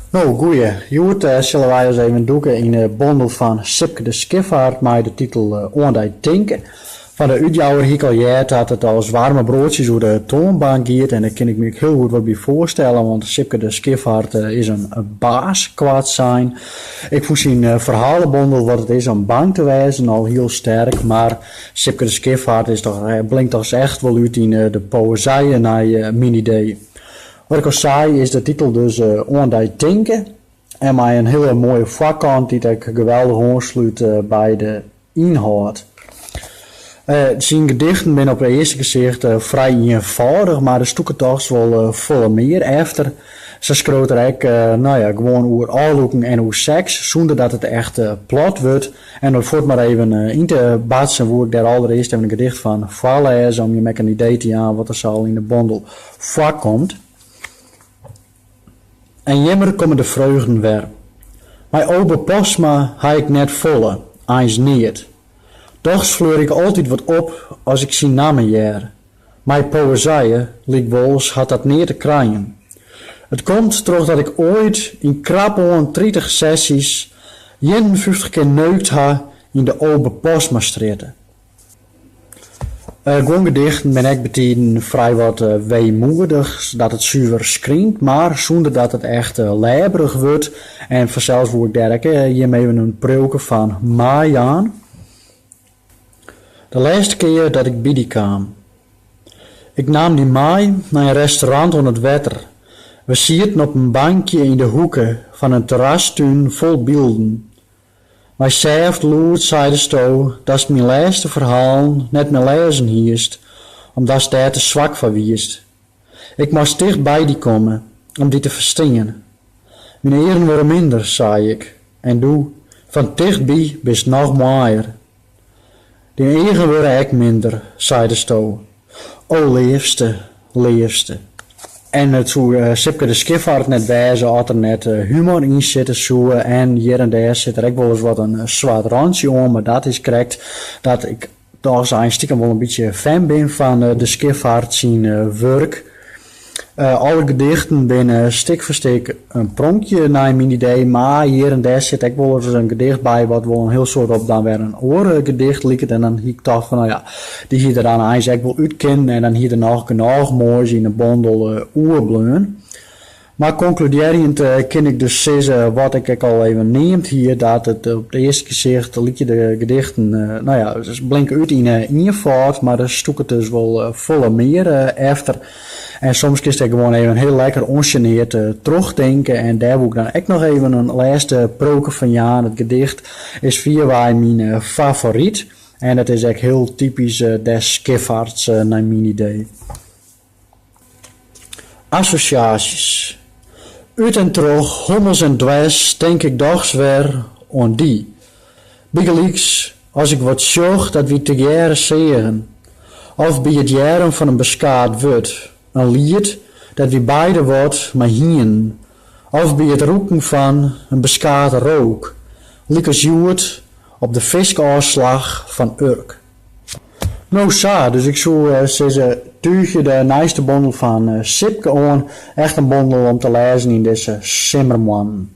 No, goeie. Hjoed sille wy ris even dûke yn 'e bondel fan Sipke de Schiffart mei de titel Oan dy tinke. Fan 'e útjouwer hie ik al heard dat it as waarme broadsjes oer 'e toanbank giet en dêr kin ik my ek hiel goed wat by foarstelle, want Sipke de Schiffart is in baas koartsein. Ik fûn syn ferhalebondel Wat it is om bang te wêzen al hiel sterk, mar Sipke de Schiffart is dochs blinkt dochs echt wol út yn de poëzije nei myn idee. Wat ik al sei is de titel dus Oan dy tinke en mei in hiele moaie foarkant dy't ek geweldich oanslút by de ynhâld. Syn gedichten binne op it earste gesicht frij ienfâldich, mar der stûket dochs wol folle mear efter. Sa skriuwt er ek no ja gewoan oer ôflûken en oer seks, sûnder dat it echt plat wurdt. En om it fuort mar even yn te batsen woe ik dêr alderearst even in gedicht fan foarlêze om jim ek in idee te jaan wat der sa al yn de bondel foarkomt. En jimmer komme de freugden wer. Mei Obe Postma ha ik net folle, eins neat. Dochs fleure ik altyd wat op as ik syn namme hear. Mei poëzije lykwols hat dat neat te krijen. It komt trochdat ik oait yn krapoan tritich sessjes ienenfyftich kear neukt ha yn de Obe Postmastrjitte. Guon gedichten binne ek betiden frij wat weemoedich, dat it suver skrynt, mar sûnder dat it echt lêberich wurdt. En fansels woe ik dêr ek jim even in priuwke fan meijaan. De lêste kear dat ik by dy kaam. Ik naam dy mei nei in restaurant oan it wetter. We sieten op in bankje yn de hoeke fan in terrastún fol bylden. Mei sêft lûd seidesto datst myn lêste ferhalen net mear lêzen hiest, omdatst dêr te swak foar wiest. Ik moast ticht by dy komme om dy te ferstean. Myn earen wurde minder, sei ik, en doe, fan tichtby, bist noch moaier. Dyn eagen wurde ek minder, seidesto, o leafste, leafste. En it soe Sipke de Schiffart net wêze as der net humor yn sitte soe. En hjir en dêr sit der ek wolris wat in swart rantsje oan, mar dat is krekt dat ik dochs eins stikem wol in bytsje fan bin fan De Schiffart syn wurk. Alle gedichten binne stik foar stik in pronkje nei myn idee, mar hjir en dêr sit ek wolris in gedicht by wat wol in hiel soad op dan wer in oar gedicht liket en dan hie ik tocht fan no ja, dy hie der dan eins ek wol út kinnen en dan hie der noch genôch moais yn 'e bondel oerbleaun. Mar konkludearjend kin ik dus sizze wat ik ek al even neamd hie, dat it op it earste gesicht lykje de gedichten, no ja, blinke út yn ienfâld, mar der stûket dus wol folle mear efter. En soms kinst ek gewoan even hiel lekker ûnsjeneard trochtinke en dêr woe ik dan ek noch even in lêste proke fan jaan. Dit gedicht is fierwei myn favoryt en dat is ek hiel typysk des Skiffarts nei myn idee. Assosjaasjes. Ut en troch hommels en dwers tink ik dochs wer oan dy. Bygelyks as ik wat sjoch dat wy tegearre seagen. Of by it hearren fan in beskaat wurd, in liet dêr't wy beide wat mei hienen. Of by it rûken fan in beskate rook, lykas hjoed op de fiskôfslach fan Urk. No sa, dus ik soe sizze, túgje de nijste bondel fan Sipke oan, echt in bondel om te lêzen yn dizze simmermoannen.